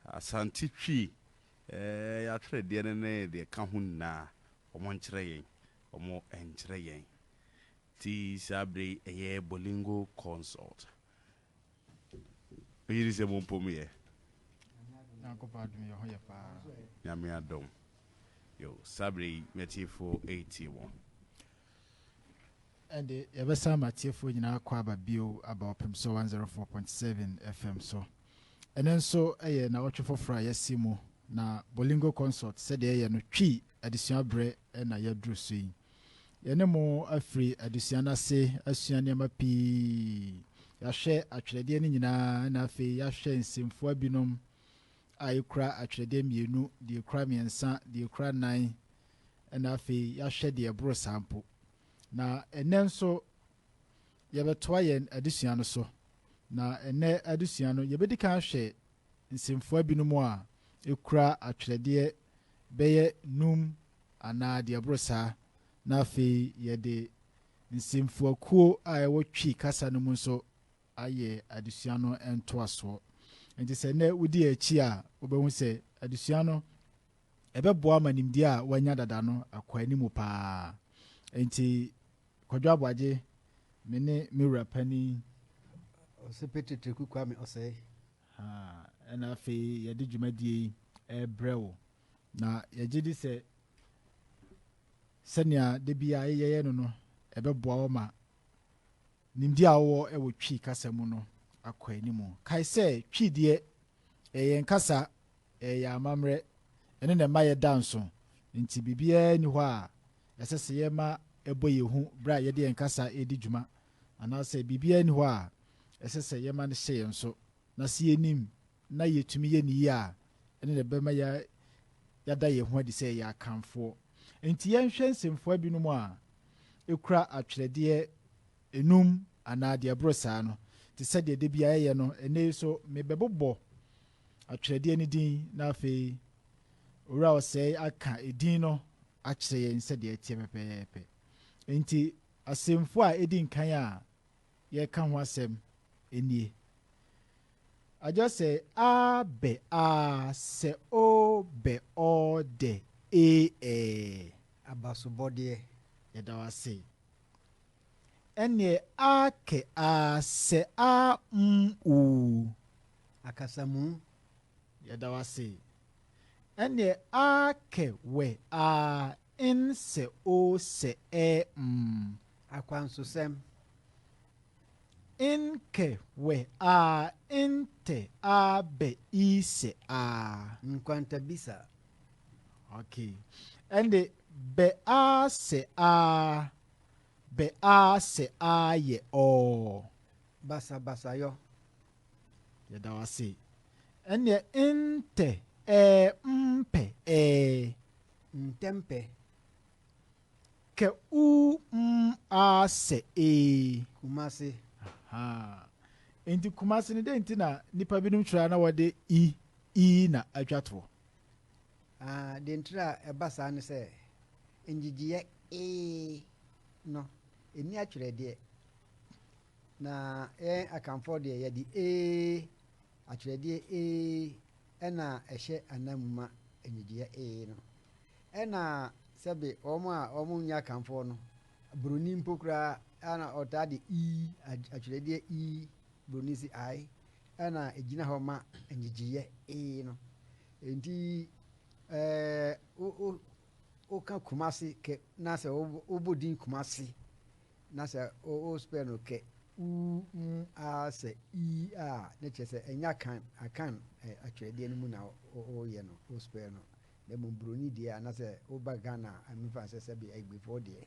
Asante Twi eh, atwerɛdeɛ no ne deɛ ɛka ho nyinaa, wɔnkyerɛ yɛn, wɔnkyerɛ yɛn. Nti saa berɛ yi ɛyɛ Bolingo Consult. Wogye di sɛ mompɔ mu yɛ? Nyankopɔn adom yɛ ho yɛ paa. Nyame adom. Yo, saa berɛ yi m'atiefoɔ retie mo. Ɛnde, yɛbɛsan ama atiefoɔ nyinaa akwaaba bio aba Ɔpemso 104.7 FM so. Ɛnnɛ nso yɛ nnawɔtwe foforɔ a yɛasi mu, na Bolingo Consult sɛdeɛ yɛyɛ no Twi adesua berɛ na yɛaduru so yi. Yɛne mo afiri adesua no ase asua nneɛma pii. Yɛahwɛ atwerɛdeɛ no nyinaa na afei yɛahwɛ nsɛmfua binom a ɛkura atwerɛdeɛ mmienu, deɛ ɛkura mmiɛnsa, deɛ ɛkura nnan, na afei yɛahwɛ deɛ ɛboro saa mpo. Na ɛnnɛ nso, yɛbɛtoa yɛn adesua no so. Na ɛnnɛ adesua no, yɛbɛdi kan ahwɛ nsɛmfua binom a ɛkura atwerɛdeɛ bɛyɛ num anaa deɛ ɛboro saa, na afei yɛde nsɛmfuakuo a ɛwɔ Twi kasa no mu nso ayɛ adesua no ntoasoɔ. Nti sɛ nnɛ wodi akyi a, wobɛhu sɛ adesua no ɛbɛboa ma nimdeɛ a wanya dada no akɔ anim paa. Enti, Kwadwo Aboagye, me ne me wura panin. Ɔsopetri Teku Kwame Ɔsɛe. Ha, ɛna afei yɛde dwumadie yi rebrɛ wo. Na yɛgye di sɛ sɛnea da bi a yɛyɛ no no, ɛbɛboa wo ma nimdeɛ a wowɔ wɔ Twi kasa mu no akɔ anim. Kae sɛ Twi deɛ ɛyɛ yɛn kasa Yɛyɛ amammerɛ, ɛno na ɛma yɛda nso. Enti biribiara nni hɔ a ɛsɛ sɛ yɛma ɛbɔ yɛn hu bere a yɛde yɛn kasa redi dwuma, anaasɛ biribiara nni hɔ a ɛsɛ sɛ yɛma no hyɛ yɛn so. Na sɛ yenim na yetumi yɛ no yie a, ɛno na ɛbɛma yɛada yɛn ho adi sɛ yɛyɛ Akanfoɔ. Enti yɛnhwɛ nsɛmfua binom a ekura atwerɛdeɛ nnum anaa deɛ ɛboro saa no, te sɛ deɛ da biara yɛyɛ no. Ɛnnɛ yi so, mebɛbobɔ atwerɛdeɛ no din, na afei Owura Ɔsɛe aka edin no akyerɛ yɛn sɛdeɛ ɛteɛ pɛpɛɛpɛ. Enti, asɛmfua a edi nkan a yɛreka ho asɛm nie. Agya sɛ a bɛ a sɛ o bɛ ɔ dɛ ee ɛɛ. Abasobɔdeɛ. Yɛda wo ase. Ɛneɛ aa kɛ aa sɛ aa mm oo. Akasamu, yɛda wo ase. Ɛneɛ aa kɛ wɛ aa inn sɛ oo sɛ ɛɛ mm. Akwansosɛm. Inn kɛ wɛ aa inn tɛ aa bɛ ii sɛ aa. Nkwantabisa, Ok, ɛnde bɛ aa sɛ aa, bɛ aa sɛ aa yɛ ɔɔ. Basabasayɔ. Yɛda wo ase. Ɛnneɛ ntɛ ɛɛ mpɛ ɛɛ. Ntɛmpɛ. Kɛ uu m aa sɛ ee. Kumase. Ahaa. Enti Kumase no dɛn nti na nnipa binom kyerɛ a na wɔde i, ii na atwa toɔ? Ah, deɛ ntira a ɛba saa ne sɛ ngyegyeɛ ee no ɛni atwerɛdeɛ. Na yɛn akanfoɔ deɛ yɛde ee atwerɛdeɛ ee ɛna ɛhyɛ ananmu ma ngyegyeɛ ee no. Ɛna sɛbe wɔn a wɔn nyɛ akanfoɔ no buroni mpo koraa ana ɔtaa de ii atwerɛdeɛ ii buroni si ae Ɛna egyina hɔ ma nnyegyeeɛ ee no. Enti ɛɛ wo ka Kumasi kɛ na sɛ wo bɔ din Kumasi na sɛ wo spell no kɛ uu mm aa sɛ ii aa ne kyerɛ sɛ ɛnyɛ Akan Akan atwerɛdeɛ no mu na wo yɛ no wo spell no na mmom broni deɛ anasɛ wo ba Ghana a me nfa nsɛ sɛbi Agbefoɔ deɛ.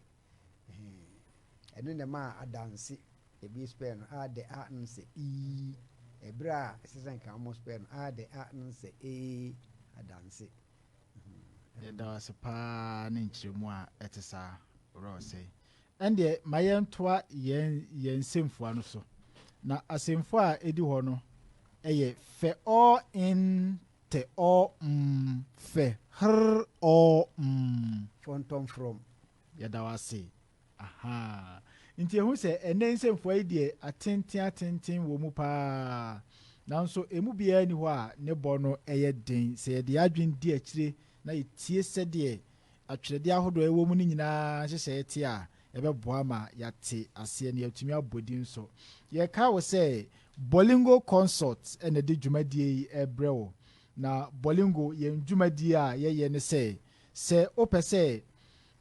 Ɛno na ɛmaa adanse ebi spɛɛ no a de a no sɛ ii, ɛberɛ a ɛsɛ sɛ nka wɔn spɛɛ no a de a no sɛ ee, adanse. Yɛda wo ase paa ne nkyerɛmu a ɛte saa, Owura Osei. Ɛndeɛ ma yɛntoa yɛn yɛn nsɛmfua no so. Na asɛmfua a ɛdi hɔ no yɛ fɛ all in Tɛ ɔɔ mm, fɛ hrrr ɔɔ mm. Fɔntɔm frɔm, yɛda wo ase ahaa. Nti ɛhu sɛ ɛnnɛ nsɛmfua yi deɛ atenten atenten wɔ mu paa nanso ɛmu biara nni hɔ a ne bɔ no yɛ den sɛ yɛde yɛn adwene di akyire na yɛtie sɛdeɛ atwerɛdeɛ ahodoɔ a ɛwɔ mu no nyinaa nhyehyɛeɛ te a, ɛbɛboa ma yɛate aseɛ na yɛatumi abɔ din nso. Yɛkae wo sɛ Bolingo Consult na ɛde dwumadie yi rebrɛ wo. Na Bolingo, yɛn dwumadie a yɛyɛ ne sɛ, sɛ wopɛ sɛ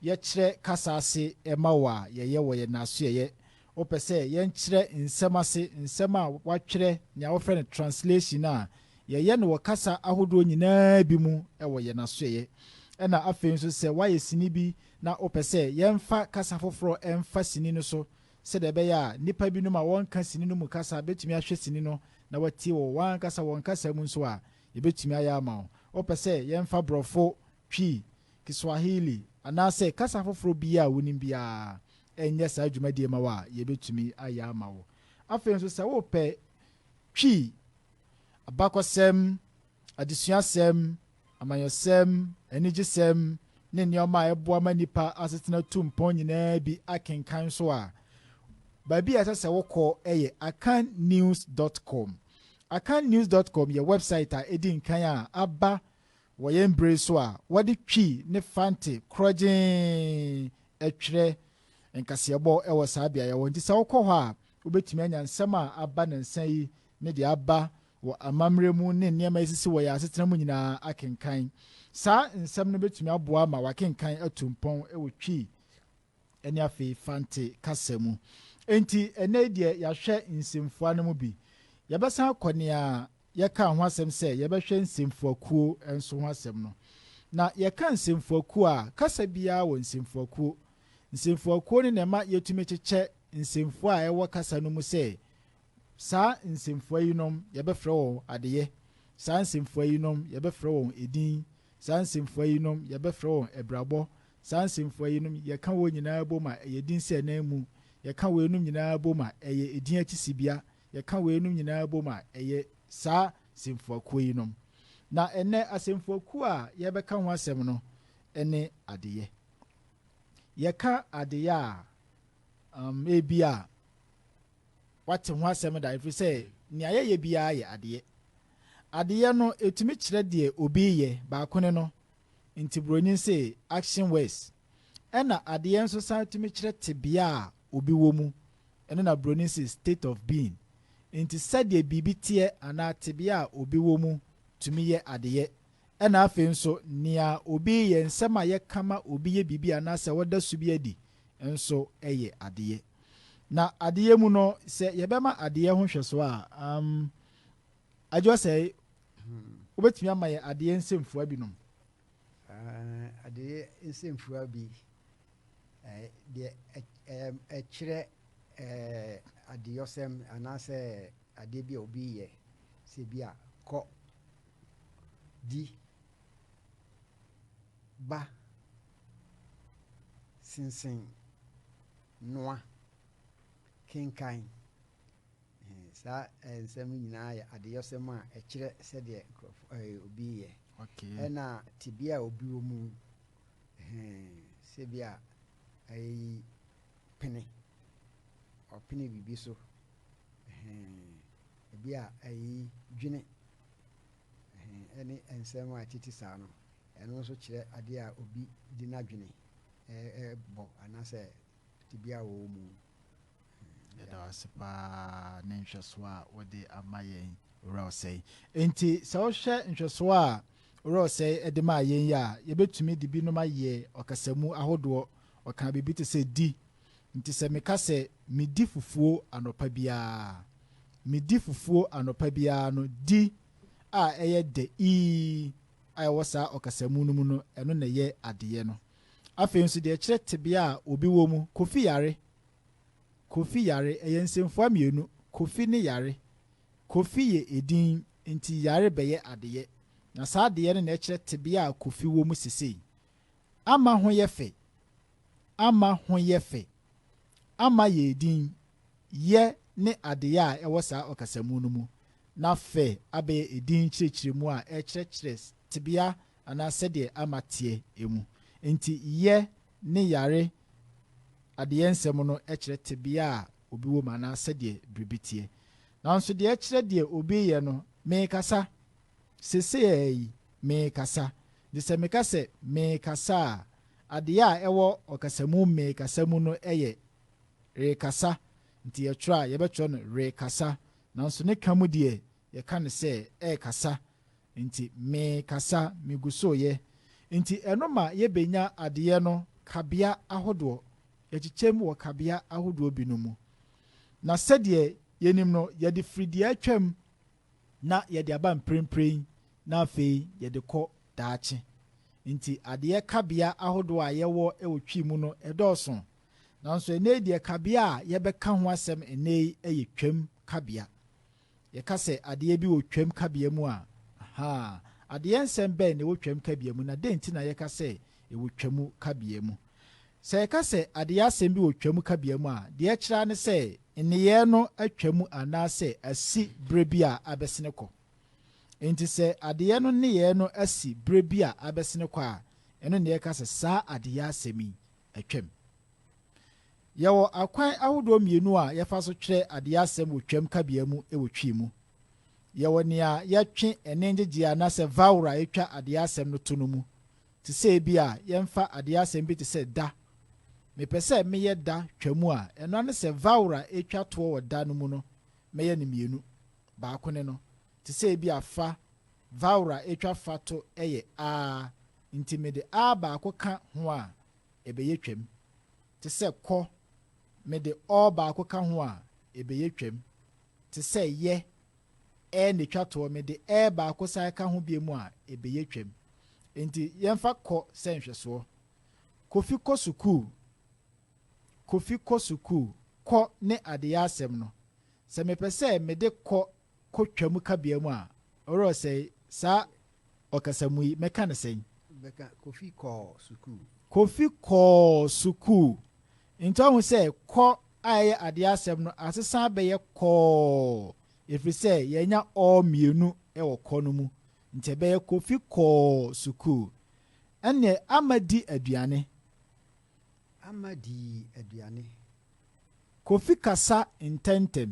yɛkyerɛ kasa ase ma wo a, yɛyɛ wɔ yɛn nnasoɛeɛ Wopɛ sɛ yɛnkyerɛ nsɛm ase, nsɛm a wɔatwerɛ, nea wɔfrɛ no translation, a, yɛyɛ no wɔ kasa ahodoɔ nyinaa bi mu wɔ yɛn asoɛeɛ. Ɛna afei nso sɛ woayɛ sini bi na wopɛ sɛ yɛmfa kasa foforɔ mfa sini no so sɛdeɛ ɛbɛyɛ a nnipa binom a wɔnka sini no mu kasa bɛtumi ahwɛ sini no na wɔatie wɔ wɔn ankasa wɔn kasa mu nso a, yɛbɛtumi ayɛ ama wo. Wopɛ sɛ yɛmfa Borɔfo, Twi, Kiswahili, anaasɛ kasa foforɔ biara a wonim biara nyɛ saa dwumadie ma wo a, yɛbɛtumi ayɛ ama wo. Afei nso sɛ wopɛ Twi, abakɔsɛm, adesuasɛm, amanyɔsɛm, anigyesɛm, ne nneɛma a ɛboa ma nnipa asetena tu mpɔn nyinaa bi akenkan nso a, baabi a ɛsɛ sɛ wokɔ yɛ akannews.com. Akannews.com yɛ wɛbsaet a ɛdi nkan a aba Wɔ yɛn bere yi so a wɔde twi ne fante korɔgyeen twere nkaseɛbɔ wɔ saa beaeɛ hɔ nti, sɛ wokɔ hɔ a, wobɛtumi anya nsɛm a aba nnansa yi ne deɛ aba wɔ amammerɛ mu ne nneɛma ɛsisi wɔ yɛn asetena mu nyinaa akenkan. Saa nsɛm no bɛtumi aboa ma wakenkan atu mpɔn wɔ twi ne afei Fante kasa mu. Enti, ɛnnɛ yi deɛ yɛahwɛ nsɛmfua no mu bi. Yɛbɛsan akɔ nea yɛkaa ho asɛm sɛ yɛbɛhwɛ nsɛmfuakuo nso ho asɛm no. Na yɛka nsɛmfuakuo a, kasa biara wɔ nsɛmfuakuo. Nsɛmfuakuo no na ɛma yɛtumi kyekyɛ nsɛmfua a ɛwɔ kasa no mu sɛ, Saa nsɛmfua yinom, yɛbɛfrɛ wɔn adeyɛ. Saa nsɛmfua yinom, yɛbɛfrɛ wɔn edin. Saa nsɛmfua yinom, yɛbɛfrɛ wɔn abirabɔ. Saa nsɛmfua yinom, yɛka wɔn nyinaa bom a, ɛyɛ edin sɛ nan mu. Yɛka weinom nyinaa bom a, ɛyɛ edin akyi sibea. Yɛka weinom nyinaa bom a, ɛyɛ saa nsɛmfuakuo yinom. Na ɛnnɛ, asɛmfuakuo a yɛrebɛka ho asɛm no ne adeyɛ. Yɛka adeyɛ a, um, ebia wate ho asɛm da, ɛfiri sɛ nea yɛyɛ biara yɛ adeyɛ. Adeyɛ no, ɛtumi kyerɛ deɛ obi reyɛ, baako ne no, Nti broni se action words. Ɛna adeɛ nso san tumi kyerɛ tebea a obi wɔ mu. Ɛno na broni se state of being. Nti sɛdeɛ biribi teɛ anaa tebea a obi wɔ mu tumi yɛ adeɛ. Ɛna afei nso nea obi yɛ, nsɛm a yɛka ma obi yɛ biribi anaasɛ ɔda su bi adi nso yɛ adeɛ. Na adeɛ mu no, sɛ yɛbɛma adeɛ ho nhwɛsoɔ a, umm. Adwoa sɛe, wobɛtumi ama yɛn adeyɛ nsɛmfua binom? Adeyɛ nsɛmfua bi, deɛ ɛkyerɛ adeyɔsɛm anaasɛ adeɛ bi a obi yɛ, sɛ bi a kɔ, di, ba, sensen, noa, kenkan. Saa nsɛm no nyinaa yɛ adeyɔsɛm a ɛkyerɛ sɛdeɛ obi yɛ ɛna tebea a obi wɔ mu sɛ bi a ɛyi pene ɔpene biribi so ebi a ɛyi dwene ɛne nsɛm a ɛtete saa no ɛno nso kyerɛ adeɛ a obi de n'adwene ɛbɔ anaasɛ Tebea a wɔwɔ mu. Yɛda wo ase paa ne nhwɛsoɔ a wode ama yɛn Owura Osei. Enti sɛ wohwɛ nhwɛsoɔ a Owura Osei de maa yɛn yi a, yɛbɛtumi de binom ayɛ ɔkasamu ahodoɔ. Ɔkaa biribi te sɛ di. Nti sɛ meka sɛ medi fufuo anɔpa biara, medi fufuo anɔpa biara no, di a ɛyɛ dɛ ii a ɛwɔ saa ɔkasamu no mu no, ɛno na ɛyɛ adeyɛ no. Afei nso deɛ ɛkyerɛ tebea a obi wɔ mu, Kofi yare, Kofi yare, ɛyɛ nsɛmfua mmienu, Kofi ne yare. Kofi yɛ edin, enti yare bɛyɛ adeyɛ, na saa adeyɛ no na ɛkyerɛ tebea a Kofi wɔ mu sesei. Ama ho yɛ fɛ, Ama ho yɛ fɛ. Ama yɛ edin, yɛ ne adeyɛ a ɛwɔ saa ɔkasamu no mu, na fɛ abɛyɛ edin kyerɛkyerɛmu a ɛrekyerɛkyerɛ tebea anaa sɛdeɛ ama teɛ mu. Enti yɛ ne yare adeyɛ nsɛm no kyerɛ tebea a obi wɔ mu anaa sɛdeɛ biribi teɛ. Nanso deɛ ɛkyerɛ deɛ obi reyɛ no, merekasa, seesei ara yi merekasa. Enti sɛ meka sɛ merekasa a, adeyɛ a ɛwɔ ɔkasamu merekasa mu no yɛ rekasa. Enti yɛtwerɛ a, yɛbɛtwerɛ no rekasa. Nanso ne ka mu deɛ, yɛka no sɛ ɛrekasa. Nti me kasa me gu so yɛ. Nti ɛno ma yɛ bɛ nya adeyɛ no kabea ahodoɔ, yɛ kyekyɛ mu wɔ kabea ahodoɔ bi nom mu. Na sɛdeɛ yɛ nim no yɛ de firi deɛ atwam na yɛ de aba mprenpren na afei yɛ de kɔ daakye. Nti adeyɛ kabea ahodoɔ a yɛ wɔ wɔ Twi mu no ɛdɔɔso. Nanso ɛnɛ yi deɛ kabea a yɛ bɛ ka ho asɛm ɛnɛ yi yɛ Twam kabea. Yɛka sɛ adeɛ bi wɔ Twam kabea mu a, ahaa, adeɛ nsɛm bɛn na ɛwɔ Twam kabea mu, na dɛn nti na yɛka sɛ ɛwɔ Twam kabea mu? Sɛ yɛka sɛ adeɛ asɛm bi wɔ Twam kabea mu a, deɛ ɛkyerɛ ara ne sɛ nneyɛɛ no atwa mu anaasɛ asi berɛ bi a abɛsene kɔ. Enti sɛ adeɛ no nneyɛɛ no asi berɛ bi a abɛsene kɔ a, ɛno na yɛka sɛ saa adeɛ asɛm yi Twam. Yɛwɔ akwan ahodoɔ mmienu a yɛfa so twerɛ adeɛ asɛm wɔ Twam kabea mu wɔ Twi mu. Yɛwɔ nea yɛtwe ɛnne ngyegyeɛ anaasɛ vowel a ɛtwa adeɛ asɛm no to no mu, te sɛ ebia yɛmfa adeɛ asɛm bi te sɛ da. Mepɛ sɛ meyɛ da twa mu a, ɛno ara ne sɛ vowel a ɛtwa toɔ wɔ da no mu no, mɛyɛ no mmienu. Baako ne no, te sɛ ebia fa Vowel a etwa fa to yɛ a, ntsi mede a baako kã ho a, ebɛyɛ twam. Tse sɛ kɔ, mede ɔ baako kã ho a, ebɛyɛ twam. Tse sɛ yɛ, ɛ na etwa toɔ, mede ɛ baako san kã ho biom a, ebɛyɛ twam. Ntsi yɛmfa kɔ sɛ nhwɛsoɔ. Kofi kɔ sukuu. Kofi kɔ sukuu. Kɔ ne adeyɛ asɛm no, sɛ mepɛ sɛ mede kɔ kɔ Twam kabea mu a, ɔwerɛ sɛe. Saa ɔkasamu yi, mɛka no sɛn? Bɛka, Kofi kɔɔ sukuu. Kofi kɔɔ sukuu. Enti wahu sɛ kɔ a ɛyɛ adeɛ asɛm no asesa abɛyɛ kɔɔ, ɛfiri sɛ yɛanya ɔ mmienu wɔ kɔ no mu. Nti ɛbɛyɛ, Kofi kɔɔ sukuu. Ɛnneɛ, Ama di aduane. Ama dii aduane. Kofi kasa ntɛmntɛm.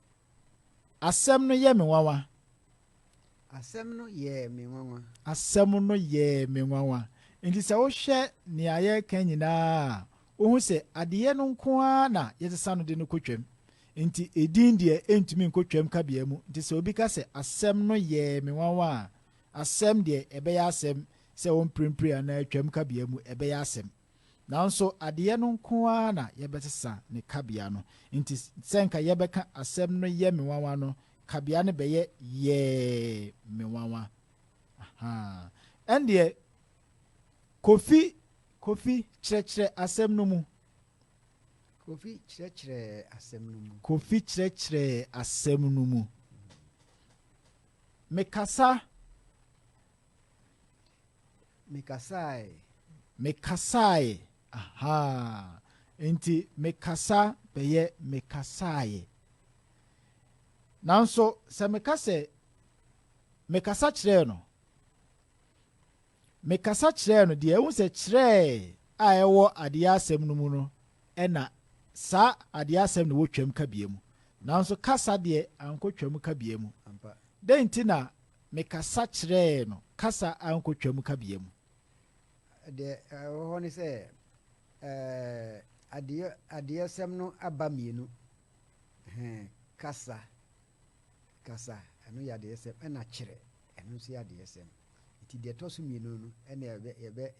Asɛm no yɛ me nwanwa. Asɛm no yɛɛ me nwanwa. Asɛm no yɛɛ me nwanwa. Nti sɛ wohwɛ nea yɛreka nyinaa a, wohu sɛ adeyɛ no nko ara na yɛsesa no de no kɔ twam. Nti edin deɛ ɛntumi nkɔ twam kabea mu. Nti sɛ obi ka sɛ asɛm no yɛɛ me nwanwa a, asɛm deɛ ɛbɛyɛ asɛm sɛ wɔmprempren anaa twam kabea mu ɛbɛyɛ asɛm. Nanso adeyɛ no nko ara na yɛbɛsesa ne kabea no. Enti sɛ anka yɛbɛka asɛm no yɛ me nwanwa no, kabea no bɛyɛ yɛɛ me nwanwa. Ɛndeɛ, Kofi, Kofi, kyerɛkyerɛ asɛm no mu. Kofi kyerɛkyerɛ asɛm no mu. Kofi kyerɛkyerɛ asɛm no mu. Mekasa. Mekasae. Mekasae, ahaa. Enti mekasa bɛyɛ mekasae. Nanso sɛ meka sɛ, Mekasa kyerɛɛ no. Mekasa kyerɛɛ no deɛ, wohu sɛ kyerɛɛ a ɛwɔ adeɛ asɛm no mu no na saa adeɛ asɛm na ɛwɔ twam kabea mu. Nanso kasa deɛ ankɔtwam kabea mu. Dɛn nti na Mekasa kyerɛɛ no kasa a nkotwam kabea mu. Deɛ ɛwɔ hɔ ne sɛ adeɛ adeɛsɛm no aba mmienu. Hɛn kasa kasa ɛno yɛ adeɛsɛm ɛna kyerɛ ɛno nso yɛ adeɛsɛm. Nti deɛ ɛtɔ so mmienu no ɛna yɛbɛ yɛbɛ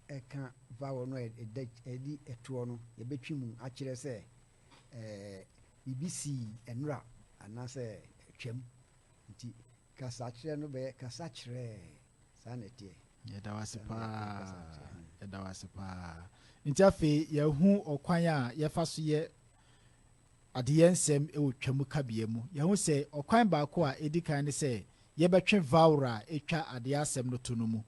ɛka vowel no a ɛda ɛdi ɛtoɔ no yɛbɛtwi mu akyerɛ sɛ ɛɛ biribi sii ɛnora anaasɛ ɛtwam Nti kasakyerɛ no bɛyɛ kasa kyerɛɛ. Saa na ɛteɛ. Yɛda wo ase paa. Yɛda wo ase paa. Nti afei yɛahu ɔkwan a yɛfa so yɛ adeyɛ nsɛm wɔ Twam kabea mu. Yɛahu sɛ ɔkwan baako a edi kan ne sɛ yɛbɛtwe vowel a etwa adeyɛ asɛm no to no mu.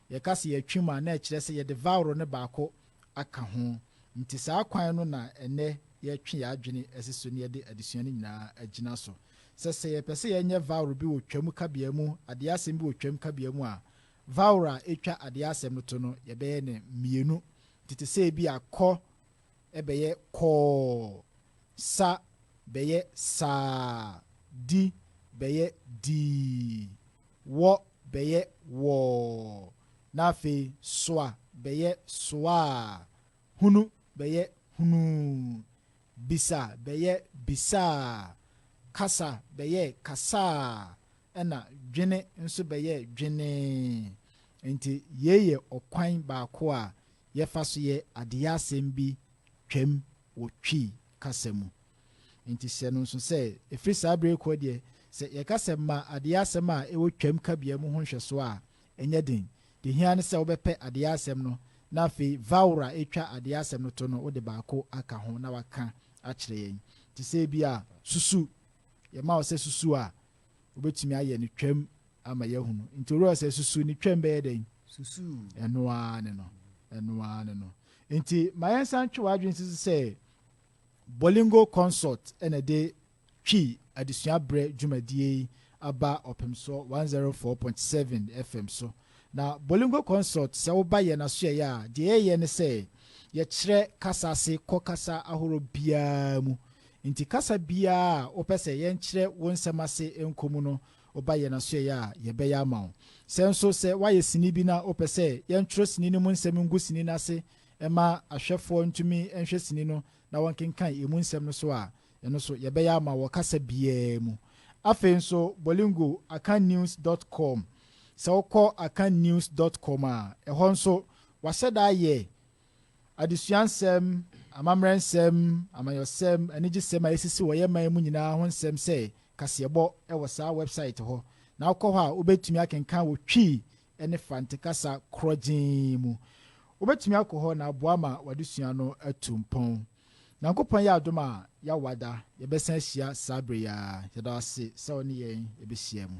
Yɛka sɛ yɛatwe mu a, na ɛkyerɛ sɛ yɛde vowel no baako aka ho. Nti saa kwan no na ɛnnɛ yɛretwe yɛn adwene asi so na yɛde adesua no nyinaa agyina so. sɛ sɛ yɛpɛ sɛ yɛnyɛ vowel bi wɔ Twam kabea mu adeɛ asɛm bi wɔ Twam kabea mu a, vowel a ɛtwa adeɛ asɛm no to no, yɛbɛyɛ no mmienu. Nti te sɛ ebi a kɔ bɛyɛ kɔɔ, sa bɛyɛ saa, di bɛyɛ dii, wɔ bɛyɛ wɔɔ, na afei soa bɛyɛ soaa, hunu bɛyɛ hunuu, Bisa bɛyɛ bisaa, kasa bɛyɛ kasaa, ɛnna dwene nso bɛyɛ dwenee. Enti yei yɛ ɔkwan baako a yɛfa so yɛ adeyɛ asɛm bi Twam wɔ Twi kasa mu. Enti hyɛ no nso sɛ, ɛfiri saa berɛ yi rekɔ deɛ, sɛ yɛka sɛ ma adeyɛ asɛm a ɛwɔ Twam kabea mu ho nhwɛsoɔ a, Ɛnyɛ den. Deɛ ɛhia ne sɛ wobɛpɛ adeɛ asɛm no na afei vowel a ɛtwa adeɛ asɛm no to no wode baako aka ho na waka akyerɛ yɛn. Te sɛ ebia susu, yɛma wo sɛ susu a, wobɛtumi ayɛ no twam ama yɛahunu. Nti worɛ sɛ susu ne twam bɛyɛ dɛn? Susu. Ɛno ara ne no. Ɛno ara ne no. Nti ma yɛnsan ntwe w'adwene nsi so sɛ Bolingo Consult na ɛde Twi adesua berɛ dwumadie yi aba Ɔpemsoɔ one zero four point seven FM so. Na Bolingo Consult sɛ woba yɛn asoɛeɛ a, deɛ yɛyɛ ne sɛ yɛkyerɛ kasa ase kɔ kasa ahoroɔ biara mu. Nti kasa biara a wopɛ sɛ yɛnkyerɛ wo nsɛm ase nkɔ mu no, woba yɛn asoɛeɛ a, yɛbɛyɛ ama wo. Sɛ nso sɛ woayɛ sini bi na wopɛ sɛ yɛntwerɛ sini no mu nsɛm ngu sini no ase ma ahwɛfoɔ ntumi nhwɛ sini no na wɔnkenkan ɛmu nsɛm no so a, Ɛno so yɛbɛyɛ ama wɔ kasa biara mu. Afei nso Bolingo, Akannews dot com, Sɛ wokɔ Akannews dot com a, ɛhɔ nso wɔahyɛ da ayɛ adesua nsɛm, amammerɛ nsɛm, amanyɔsɛm, anigyesɛm a ɛsisi wɔ yɛn man mu nyinaa ho nsɛm sɛ kaseɛbɔ wɔ saa wɛbsaet hɔ. Na wokɔ hɔ a, wobɛtumi akenkan wɔ Twi ne Fante kasa korɔgyeen mu. Wobɛtumi akɔ hɔ na aboa ma w'adesua no atu mpɔn. Nyankopɔn yɛ adom a yɛawada yɛbɛsan ahyia saa berɛ yi ara, yɛda wo ase sɛ wo ne yɛn bɛhyia mu.